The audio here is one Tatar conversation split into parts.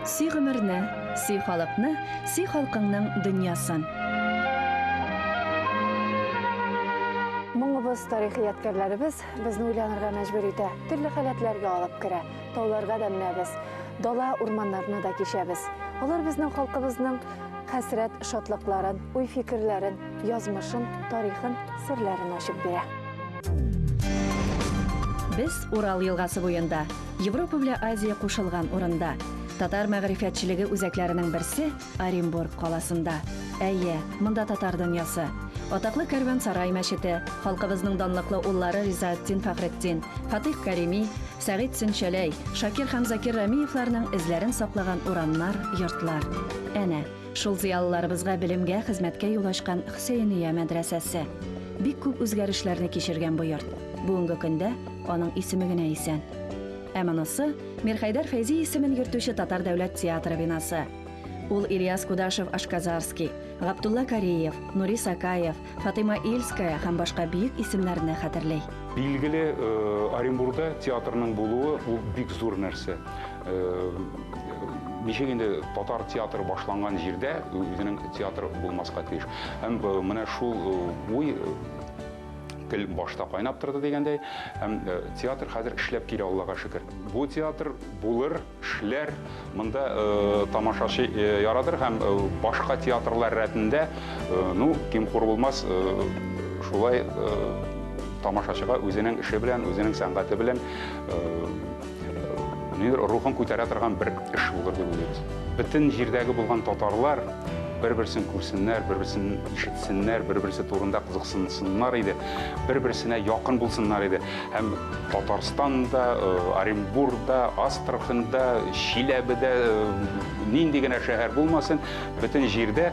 Сөй гомерне, сөй халыкны, сөй халкыңның дөньясын. Моңыбыз, тарихи ядкәрләребез, безне уйланырга мәҗбүр итә, төрле халәтләргә алып керә. Тауларга да менәбез, дала урманнарны да кичәбез. Алар безнең халкыбызның хәсрәт шатлыкларын, уй фикерләрен, язмышын, тарихын, серләрен ачып бирә. Без Урал елгасы буенда, Европа белән Азия кушылган урында. Татар мәгърифәтчелеге үзәкләренең берсе, Оренбург каласында. Әйе, монда татар дөньясы. Атаклы Кәрвансарай мәчете, халкыбызның данлыклы уллары Ризаэтдин Фәхретдин, Фатыйх Кәрими, Сәгыйть Сөнчәләй, Шакир һәм Закир Рәмиевларның эзләрен саклаган урамнар, йортлар. Әнә, шул зыялыларыбызга белемгә, хезмәткә юл ачкан Хөсәения мәдрәсәсе. Бик күп үзгәрешләрне кичергән бу йорт. Бүгенге көндә аның исеме генә исән. Ә монысы Мирхәйдәр Фәйзи исемен йөртүче Татар дәүләт театры бинасы. Ул Ильяс Кудашев Ашказарский, Гаптулла Кариев, Нури Сакаев, Фатыйма Ильская һәм башка бөек исемнәрне хәтерли. Билгеле, э, Оренбургда театрның булуы ул бик зур нәрсә. Э, ничек инде татар театры башланган җирдә үзенең театры булмаска тиеш. Һәм э, менә шул уй тел башта кайнап торды дигәндәй һәм э, театр хәзер эшләп килә аллага шөкер бу театр булыр эшләр монда э, тамашачы э, ярадыр һәм башка театрлар рәтендә ну ким хур булмас шулай тамашачыга үзенең эше белән үзенең сәнгате белән Мир рухын күтәрә торган бер эш булыр дип уйлыйбыз. Бөтен җирдәге булган татарлар бер-берсен күрсеннәр, бер-берсен ишетсеннәр, бер-берсе турында кызыксынсыннар иде, бер-берсенә якын булсыннар иде. Һәм Татарстанда, э, Оренбургда, Астраханда, Чиләбедә э, нинди генә шәһәр булмасын, бөтен җирдә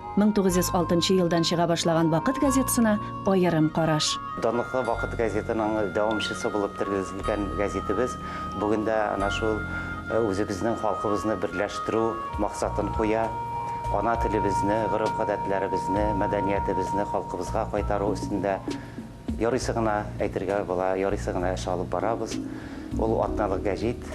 Мең тугыз йөз алтынчы елдан чыга башлаган Вакыт газетасына аерым караш. Данлыклы Вакыт газетының дәвамчысы булып тергезелгән гәзитебез бүген дә әнә шул үзебезнең халкыбызны берләштерү максатын куя, ана телебезне, гореф-гадәтләребезне, мәдәниятебезне халкыбызга кайтару өстендә Ярыйсы гына әйтергә була, ярыйсы гына эш алып барабыз. Ул атналык гәҗит.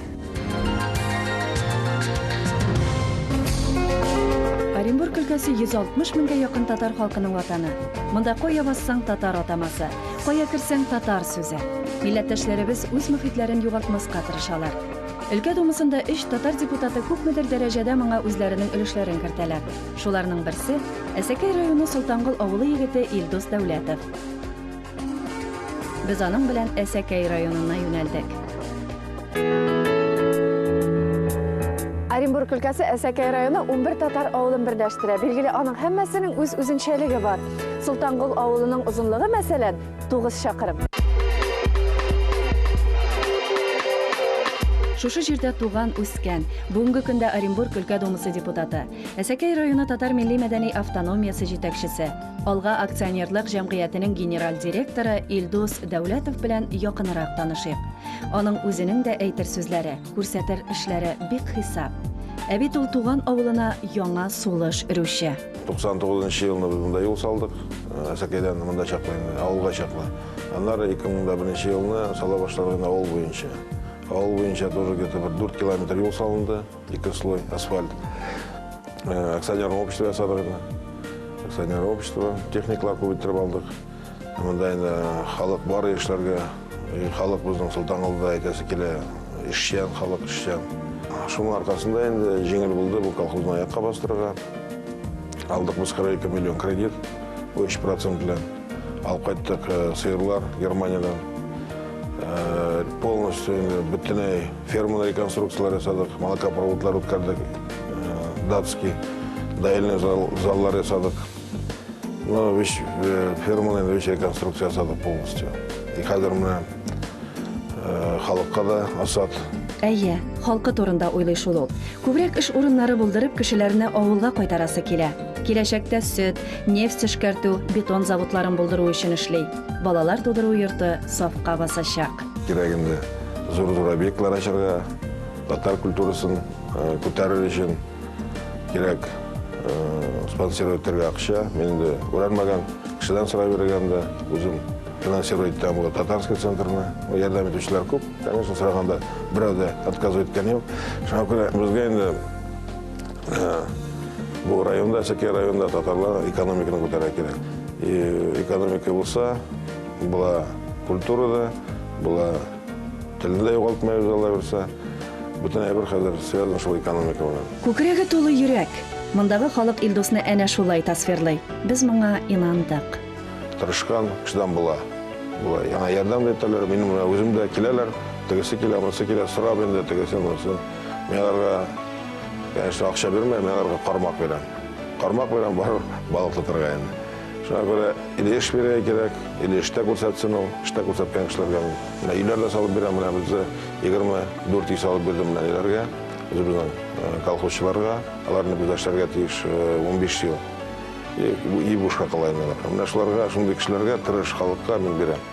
Оренбург өлкәсе 160 меңгә якын татар халкының ватаны. Монда кая бассаң татар атамасы, кая керсәң татар сүзе. Милләттәшләребез үз мөхитләрен югалтмаска тырышалар. Өлкә думасында өч татар депутаты күпмедер дәрәҗәдә моңа үзләренең өлешләрен кертәләр. Шуларның берсе, Әсәкәй районы Солтангол авылы егете Илдус Дәүләтов. Без аның белән Әсәкәй районына юнәлдек. Оренбург өлкәсе Әсәкәй районы 11 татар авылын берләштерә. Билгеле, аның һәммәсенең үз үзенчәлеге бар. Солтангол авылының озынлыгы, мәсәлән, 9 чакрым. Шушы җирдә туган, үскән, бүгенге көндә Оренбург өлкә думасы депутаты, Әсәкәй районы татар милли-мәдәни автономиясе җитәкчесе, Алга акционерлык җәмгыятенең генераль директоры Илдус Дәүләтов белән якынрак танышыйк. Аның үзенең дә әйтер сүзләре, күрсәтер эшләре бик хисап. Ә бит ул туган авылына яңа сулыш өрүче. 99 нчы елны без монда юл салдык. Э, Әсәкәйдән монда чаклы инде, авылга чаклы. Аннары 2001 елны сала башладык инде авыл буенча. Авыл буенча тоже где-то бер 4 километр юл салынды. Ике слой асфальт. Э, акционер общество ясадык инде. Акционер общество, техникалар күбәйттереп алдык. Монда инде халык бар яшьләргә, халык безнең Солтангалда әйтәсе килә, эшчән халык, эшчән. Шуның аркасында инде җиңел булды бу колхозны аякка бастырырга. Алдык без 42 миллион кредит, 3% белән. Алып кайттык э, сыерлар Германиядән. Э, полностью инде бөтенләй Ферманы реконструкцияләр ясадык, молокопроводлар үткәрдек, э, датский, даильный заллар ясадык. Ну, вещь, э, ферманы вещь реконструкция ясадык полностью. И хәзер менә э, халыкка да асад. Әйе, халкы турында уйлый шул ул. Күбрәк эш урыннары булдырып, кешеләрне авылга кайтарасы килә. Киләчәктә сөт, нефть эшкәртү, бетон заводларын булдыру өчен эшли. Балалар тудыру йорты сафка басачак. Кирәгенде зур-зур объектлар ачарга, татар культурасын күтәрер өчен кирәк спонсировать итәргә акча. Мин инде күрәлмәгән кешедән сорап йөргән дә үзем финансировать итәм бу татарский центрны. Ярдәм итүчеләр күп. Конечно, сораганда берәү дә отказывать иткән юк. Шуңа күрә безгә инде бу районда, Сәке районда татарлар экономиканы күтәрә кирәк. И экономика булса, Була культурада, була телне дә югалтмай үзе алла бирсә. Бөтен әйбер хәзер связан шул экономика белән. Күкрәге тулы йөрәк. Мондагы халык Илдусны әнә шулай тасвирлый. Без моңа инандык. Тырышкан, чыдам була. Була. Яңа ярдәм дә итәләр. Минем үзем дә киләләр. Тегесе килә, монысы килә, сорап инде тегесе, монысы. Мин аларга, конечно, акча бирмәм, мин аларга кармак бирәм. Кармак бирәм, барып балык тотарга инде. Шуңа күрә или эш бирергә кирәк, или эштә күрсәтсен ул, эштә күрсәткән кешеләргә мин. Менә өйләр дә салып бирәм, менә бездә 24 өй салып бирдем менә ниләргә, үзебезнең э, колхозчыларга. Алар инде бездә эшләргә тиеш 15 э, ел. И, и бушка кала инде алар. Менә шуларга, шундый кешеләргә, тырыш халыкка мин бирәм.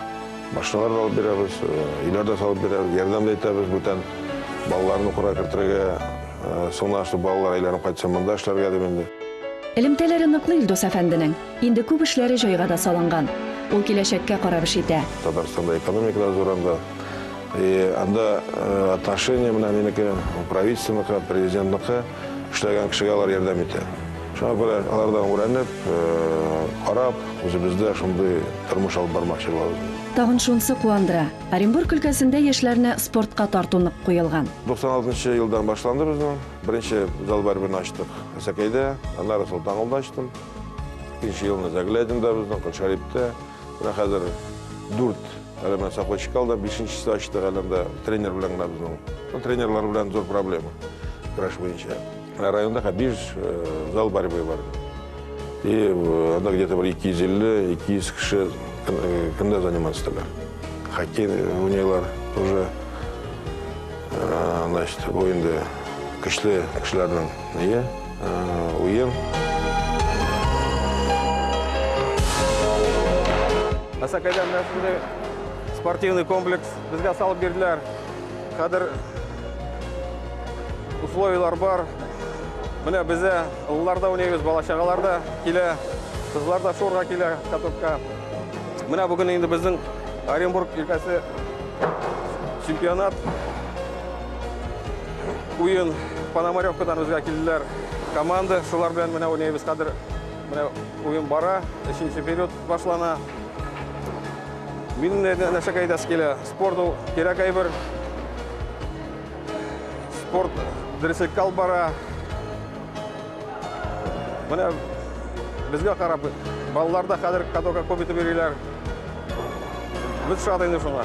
Машиналар да алып бирәбез, э, өйләр дә салып бирәбез, ярдәм дә итәбез бүтән балаларны укырга кертергә, Соңыннан шул балалар әйләнеп кайтса, монда эшләргә дим инде. Элемтәләре ныклы Илдус әфәнденең. Инде күп эшләре җайга да салынган. Ул киләчәккә карап эш итә. Татарстанда экономика да зуранда. И анда отношение менә минеке, правительственныкы, президентныкы. Эшләгән кешегә алар ярдәм итә. Шуңа күрә алардан үрәнеп, карап, үзебездә шундый тормыш алып бармакчы булабыз. Тагын шунсы куандыра. Оренбург өлкәсендә яшьләрне спортка тарту нык куелган. 96 нчы елдан башланды безнең. Беренче зал барьберне ачтык Әсәкәйдә, аннары Солтангулда ачтым. Икенче елны Заглядинда безнең, Кылшариптә. Менә хәзер дүрт, әле менә Сокольчикал да бишенчесе ачтык, әле анда тренер белән генә безнең. Ну, тренерлар белән зур проблема, көрәш буенча. Районда ха биш зал борьбы бар. И анда где-то бір 250-200 кеше кімде заниматься итәләр. Хоккей уйныйлар уже. Значит, бу инде көчле кешеләрнең ие уен. Асакайда менә шундый спортивный комплекс безгә салып бирделәр. Хәзер условияләр бар. Менә бездә ыллар да уйныйбыз, балачагалар да килә, кызлар да шуырга килә катокка. Менә бүген инде безнең Оренбург өлкәсе чемпионат уен Пономаревкадан безгә килделәр команда. Шулар белән менә уйныйбыз хәзер. Менә уен бара, өченче период башлана. Мин нәрсә кайдас килә? Спорт ул кирәк әйбер. Спорт дөреслеккә алып бара. Менә безгә карап, балалар да хәзер катокка күп итеп йөриләр. Без шат инде шуңа.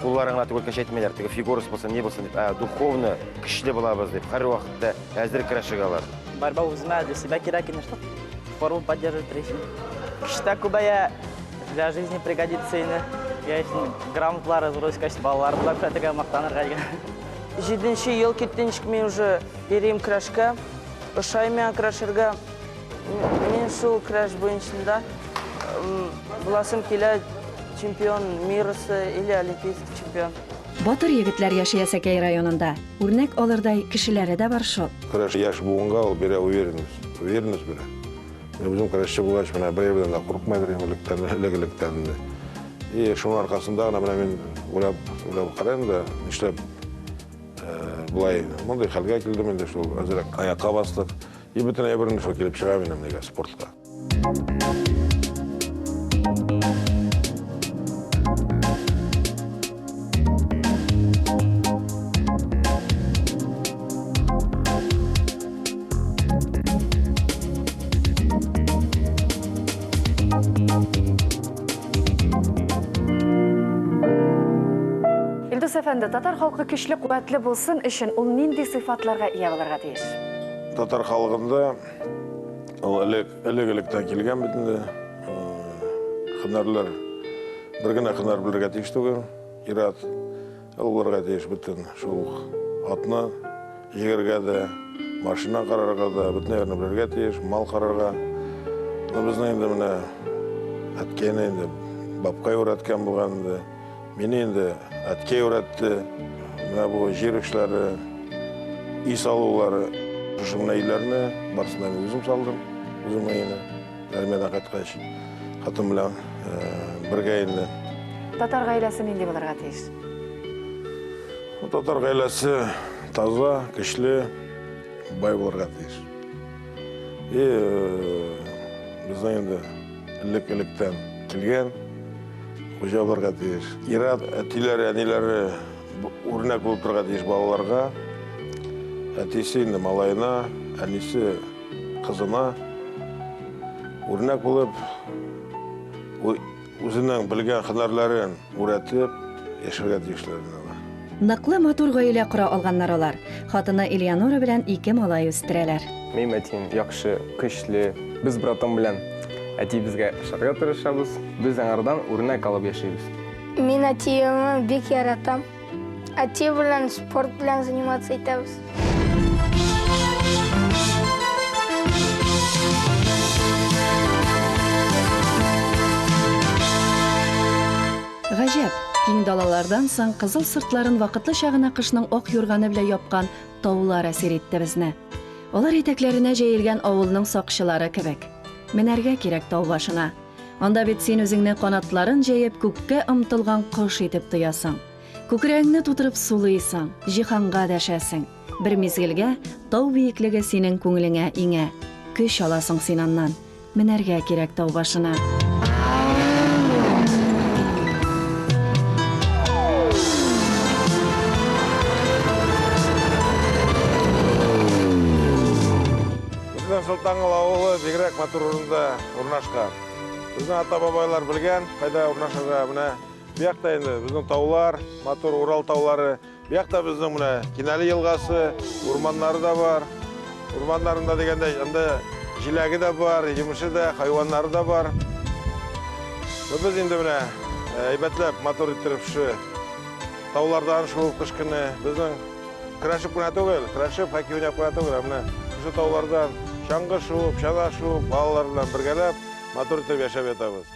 Кулларын гына түгел кеше әйтмиләр, теге фигурасы булсын, не булсын, ә духовно көчле булабыз дип, һәр вакытта әзер көрәшергә алар. Борьба үземә для себя кирәк ине, чтобы форму поддерживать рейсин. Кешедә күбәя для жизни пригодится ине. Я өчен грамоталар разроюсь, кайсы балалар була күрәтергә мактанырга дигән. Җиденче ел киттенчик мин уже йөрим көрәшкә. Ошай миңа көрәшергә. Мин шул краш буенчында буласым килә чемпион мирасы или олимпийский чемпион. Батыр егетләр яши Әсәкәй районында. Үрнәк алырдай кешеләре дә бар шул. Краш яшь буынга ул бирә уверенность. Уверенность бирә. Мин үзем крашчы булгач, менә бәяләрдән дә курыкмыйдыр инде электән, элек-электән инде. И шуның аркасында гына менә мин уйлап, уйлап карыйм да, нишләп э, болай мондый хәлгә килдем инде шул әзрәк аякка бастык. И бөтен әйберем шул килеп чыга минем нигә спортка. Илдус әфәнде, татар халкы көчле, куәтле булсын өчен ул нинди сыйфатларга ия булырга тиеш? Татар халкында ул элек элек электән килгән бит инде. Хөнәрләр бер генә хөнәр белергә тиеш түгел. Ират ул булырга тиеш бөтен шул атны җигәргә дә, машина карарга да, бөтен нәрсәне белергә тиеш, мал карарга. Безнең инде менә әткәйне инде бабкай өйрәткән булган инде. Мине инде әткәй өйрәтте. Менә бу җир эшләре, өй салулары. Шушы гына өйләрне барысын да мин үзем салдым, үзем өйне. Армиядән кайткач, хатын белән бергә инде. Татар гаиләсе нинди булырга тиеш? Татар гаиләсе таза, көчле, бай булырга тиеш. И безнең инде элек-электән килгән Хуҗа булырга тиеш. Ират әтиләре, әниләре үрнәк булып торырга тиеш балаларга. Әтисе инде малаена, әнисе кызына үрнәк булып үзенең белгән һөнәрләрен үрәтеп яшәргә тиешләр. Ныклы, матур гаилә кора алганнар алар. Хатыны Элеонора белән ике малай үстерәләр. Минем әтием яхшы, көчле. Без братым белән әтиебезгә ошарга тырышабыз. Без аңардан үрнәк алып яшибез. Мин әтиемне бик яратам. Әти белән спорт белән заниматься итәбез. Гаҗәп, киң далалардан соң кызыл сыртларын вакытлыча гына кышның ак юрганы белән япкан таулар әсир итте безне. Алар итәкләренә җәелгән авылның сакчылары кебек. Менәргә кирәк тау башына. Анда бит син үзеңне канатларын җәеп күккә омтылган кош итеп тоясың. Күкрәгеңне тутырып сулыйсың, җиһанга дәшәсең. Бер мизгелгә тау биеклеге синең күңелеңә иңә. Көч аласың син аннан. Менәргә кирәк тау башына. Солтанлы ауылы бигрәк матур урында урнашкан. Безнең ата-бабайлар белгән, кайда урнашырга. Менә бу якта инде безнең таулар, матур Урал таулары. Бу якта безнең менә Кинәле елгасы, урманнары да бар. Урманнарында дигәндә, анда җиләге дә бар, җимеше дә, хайваннары да бар. Без инде менә әйбәтләп мотор иттереп шу таулардан шуып кыш көне безнең крашып кына түгел, крашып хәки уйнап кына түгел, ә менә шу таулардан чаңгы шуып, чана шуып, балалар белән бергәләп мотор итеп яшәп ятабыз.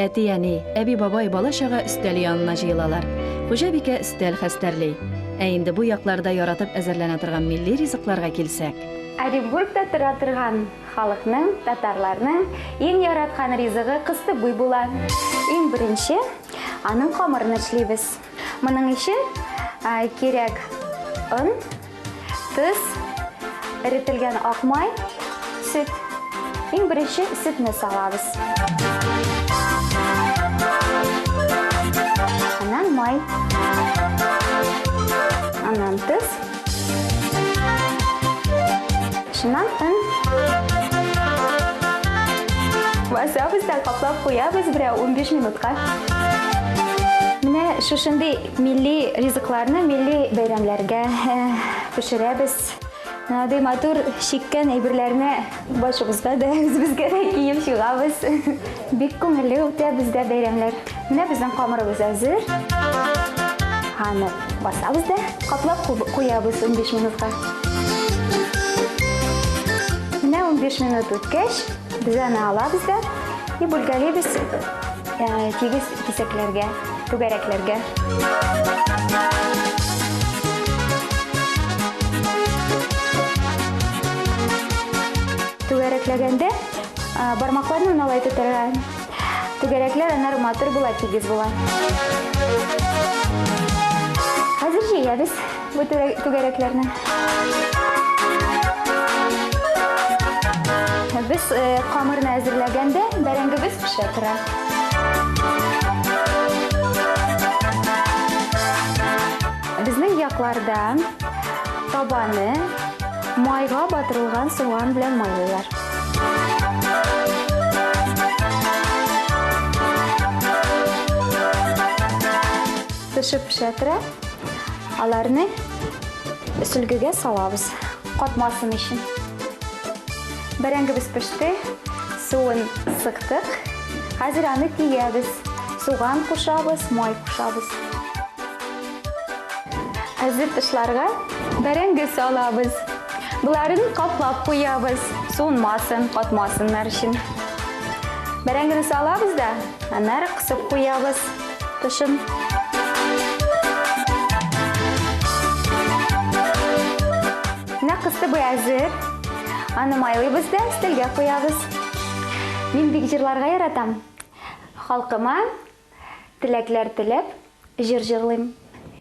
Әти-әни, әби-бабай, бала-чага өстәл янына җыелалар. Хуҗабикә өстәл хәстәрли. Ә инде бу якларда яратып әзерләнә торган милли ризыкларга килсәк. Оренбургта тора торган халыкның, татарларның иң яраткан ризыгы кыстыбый була. Иң беренче аның камырын эшлибез. Моның өчен кирәк он, Төз, эретелгән ак май, сөт. Иң беренче сөтне салабыз. Аннан май. Аннан төз. Шуннан өн. Басабыз да каплап куябыз берәр 15 минутка. Менә шушындый Милли ризыкларны милли бәйрәмләргә пешерәбез. Андый матур чиккән әйберләрне башыбызга да, үзебезгә дә киеп чыгабыз. Бик күңелле үтә бездә бәйрәмләр. Менә безнең камырыбыз әзер. Аны басабыз да каплап куябыз 15 минутка. Менә 15 минут үткәч, без аны алабыз да и бүлгәлибез тигез кисәкләргә. Түгәрәкләгәндә бармакларны уналай тотарга. Түгәрәкләр аннары матур була, тигез була. Хәзер җыябыз. Бу түгәрәкләрне. Без камырны э, әзерләгәндә бәрәңгебез пешә тора. Безнең якларда табаны майга батырылган суган белән майлыйлар. Пешеп пешә тора. Аларны сүлгегә салабыз, катмасын өчен. Бәрәңгебез пеште, суын сыктык. Хәзер аны тиябез. Суган кушабыз, май кушабыз. Әзер тышларга бәрәңге салабыз. Боларын каплап куябыз, суынмасын, катмасыннар өчен. Бәрәңгене салабыз да, аннары кысып куябыз. Тышын. Менә кысты буй әзер. Аны майлыйбыз да стелгә куябыз. Мин бик җырларга яратам. Халкыма теләкләр теләп җыр җырлыйм.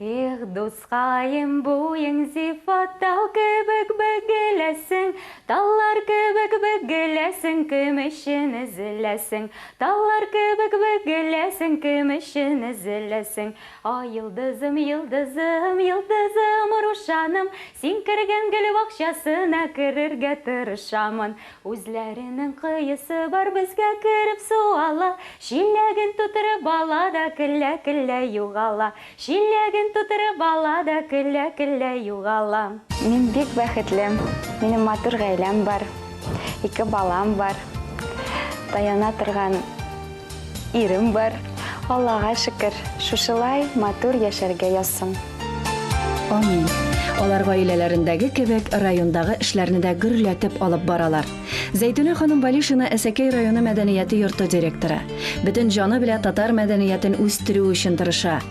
Их, дускаем, буең сыйфат тау кебек бөгеләсең, Таллар кебек бөгеләсең, кем өчен өзеләсең? Таллар кебек бөгеләсең, кем өчен өзеләсең? О, йолдызым, йолдызым, йолдызым, Рушаным, Син кергән гөл бакчасына керергә тырышамын. Үзләренең коесы бар, безгә кереп су ала. Чиләген тутырып ала да көлә-көлә югала. Чиләген тутырып ала да көлә-көлә югала. Мин бик бәхетле, минем матур гаиләм бар, ике балам бар, таяна торган. Ирем бар, Аллага шөкер, шушылай матур яшәргә язсын. Амин. Алар гаиләләрендәге кебек райондагы эшләрне дә гөрләтеп алып баралар. Зәйтүнә ханым Балишина Әсәкәй районы мәдәнияте йорты директоры. Бөтен җаны белә татар мәдәниятен үстерү өчен тырыша.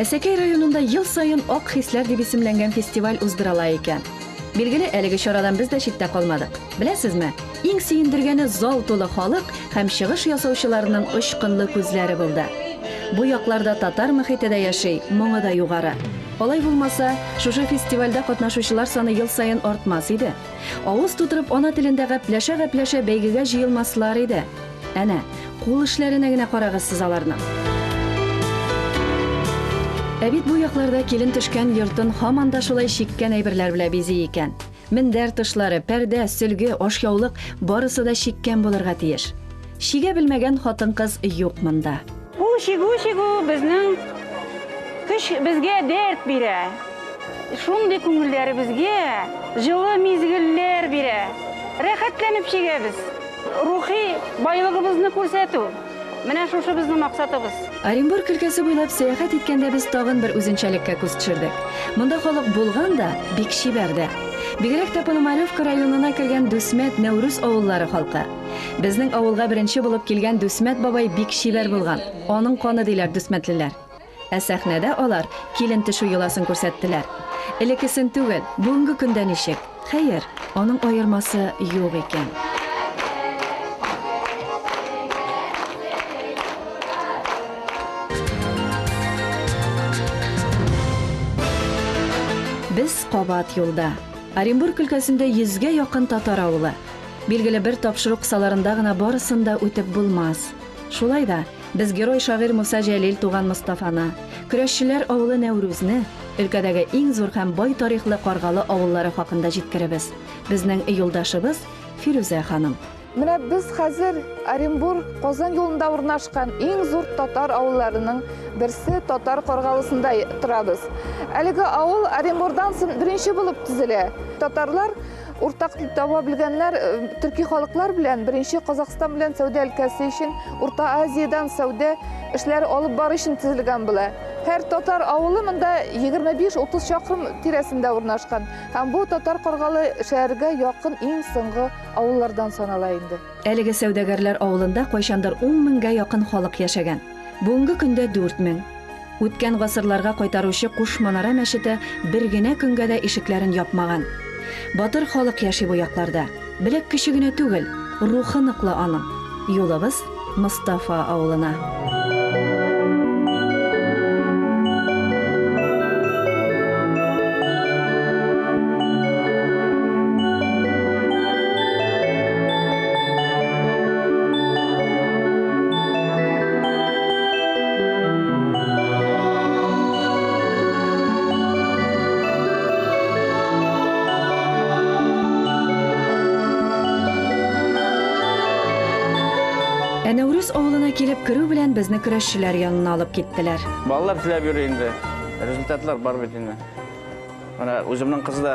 Әсәкәй районында ел саен Ак хисләр дип исемләнгән фестиваль уздырыла икән. Билгеле, әлеге чарадан без дә читтә калмадык. Беләсезме? Иң сөендергәне зал тулы халык һәм чыгыш ясаучыларның очкынлы күзләре булды. Бу якларда татар мөхите дә яши, моңы да югары. Алай булмаса, шушы фестивальдә катнашучылар саны ел саен артмас иде. Авыз тутырып ана телендә гәпләшә-гәпләшә бәйгегә җыелмаслар иде. Әнә, кул эшләренә генә карагыз сез аларның. Ә бит бу якларда килен төшкән йортын һаман да шулай чиккән әйберләр белә бизи икән. Мендәр тышлары, пәрдә, сөлге, ашъяулык, барысы да чиккән булырга тиеш. Чигә белмәгән хатын-кыз юк монда. Бу чигү-чигү безнең көч, безгә дәрт бирә. Шундый күңелләребезгә җылы мизгелләр бирә. Рәхәтләнеп чигәбез. Рухи байлыгыбызны күрсәтү. Менә шушы безнең максатыбыз. Оренбург өлкәсе буйлап сәяхәт иткәндә без тагын бер үзенчәлеккә күз төшердек. Монда халык булган да, бик чибәр дә. Бигрәк тә Пономаревка районына кергән Дүсмәт, Нәүрүз авыллары халкы. Безнең авылга беренче булып килгән Дүсмәт бабай бик чибәр булган. Аның каны диләр дүсмәтлеләр. Ә сәхнәдә алар килен төшү йоласын күрсәттеләр. Элекесен түгел, бүгенге көндә ничек? Хәер, аның аермасы юк икән. Без кабат юлда. Оренбург өлкәсендә йөзгә якын татар авылы. Билгеле, бер тапшыру кысаларында гына барысын да үтеп булмас. Шулай да, Без герой-шагыйрь Муса Җәлил туган Мостафаны, Көрәшчеләр авылы Нәүрүзне, өлкәдәге иң зур һәм бай тарихлы Каргалы авыллары хакында җиткеребез. Безнең юлдашыбыз, Фирүзә ханым. Менә без хәзер Оренбург, Казан юлында урнашкан иң зур татар авылларының берсе Татар Каргалысында торабыз. Әлеге авыл Оренбурдан сон беренче булып төзелә. Татарлар Уртак дип таба белгәннәр төрки халыклар белән беренче Казахстан белән сәүдә өлкәсе өчен Урта Азиядән сәүдә эшләре алып бару өчен төзелгән була. Һәр татар авылы монда 25-30 чакрым тирәсендә урнашкан һәм бу татар каргалы шәһәргә якын иң соңгы авыллардан санала инде. Әлеге сәүдәгәрләр авылында кайчандыр 10 меңгә якын халык яшәгән. Бүгенге көндә 4 мең. Үткән гасырларга кайтаручы Куш манара мәчете бер генә көнгә дә ишекләрен япмаган. Батыр халык яши бу якларда. Беләк көче генә түгел, рухы ныклы аның. Юлыбыз Мостафа авылына. Ә Нәүрүз авылына килеп керү белән безне көрәшчеләр янына алып киттеләр. Балалар теләп йөри инде. Результатлар бар бит инде. Менә үземнең кыз да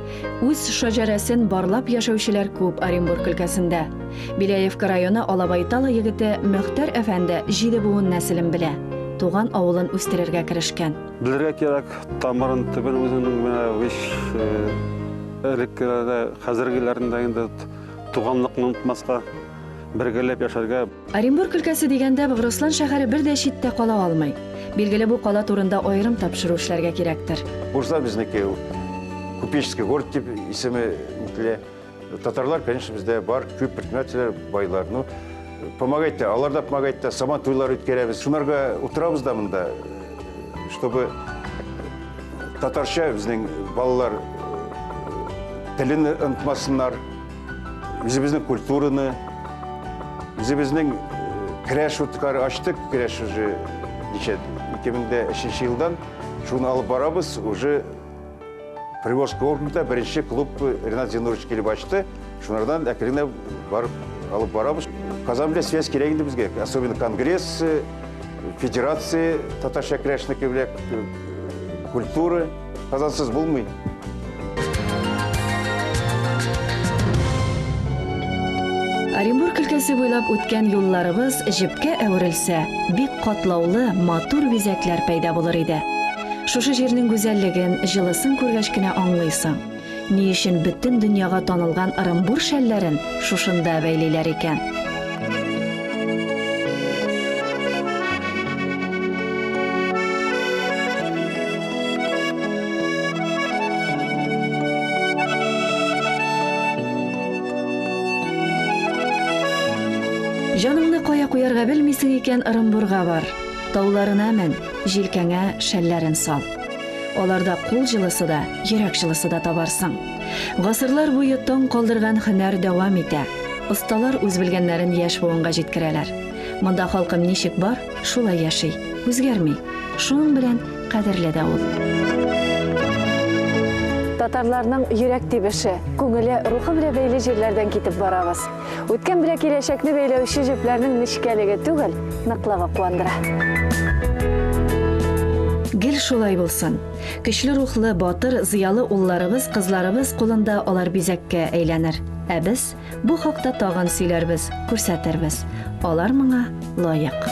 Үз шәҗәрәсен барлап яшәүчеләр күп Оренбург өлкәсендә. Беляевка районы Алабайтала егете Мөхтәр әфәнде җиде буын нәселен белә, туган авылын үстерергә керешкән. Белергә кирәк тамырын, төбен үзенең менә вич элеккеләрдә, хәзергеләрендә инде туганлыкны онытмаска, бергәләп яшәргә. Оренбург өлкәсе дигәндә Богрослан шәһәре бер дә читтә кала алмый. Билгеле бу кала турында аерым тапшыру эшләргә кирәктер. Бурза безнеке ул. Купеческий город дип исеме үтелә. Татарлар, конечно, бездә бар, күп предпринимательләр, байлар. Ну, помогать та, алар да помогать та, сабан туйлар үткәрәбез. Шунарга утырабыз да монда, чтобы татарча безнең балалар телен онытмасыннар. Үзебезнең культураны, үзебезнең керәш уткары ачтык, керәш уже ничә 2003 елдан шуны алып барабыз, уже Приволжск округында беренче клуб Ренат Зинурович килеп ачты, шунардан әкренле барып алып барабыз. Казан белән связь кирәк инде безгә, особенно конгресс, федерация татарча керәшнеке белән культура Казансыз булмый. Оренбург өлкәсе буйлап үткән юлларыбыз җепкә әверелсә, бик катлаулы, матур бизәкләр пәйда булыр иде. Шушы җирнең гүзәллеген, җылысын күргәч кенә аңлыйсың. Ни өчен бөтен дөньяга танылган Ырымбур шәлләрен шушында бәйлиләр икән? Җаныңны кая куярга белмисең икән, Ырымбурга бар. Тауларына мен, җилкәңә шәлләрен сал. Аларда кул җылысы да, йөрәк җылысы да табарсың. Гасырлар буе таң калдырган һөнәр дәвам итә. Осталар үз белгәннәрен яшь буынга җиткерәләр. Монда халкым ничек бар, шулай яши, үзгәрми. Шуның белән кадерле дә ул. Татарларның йөрәк тибеше, күңеле, рухы белән бәйле җирләрдән китеп барабыз. Үткән белән киләчәкне бәйләүче җепләрнең нечкәлеге түгел, ныклыгы куандыра. Гел шулай булсын. Көчле рухлы, батыр, зыялы улларыбыз, кызларыбыз кулында алар бизәккә әйләнер. Ә без бу хакта тагын сөйләрбез, күрсәтербез. Алар моңа лаек.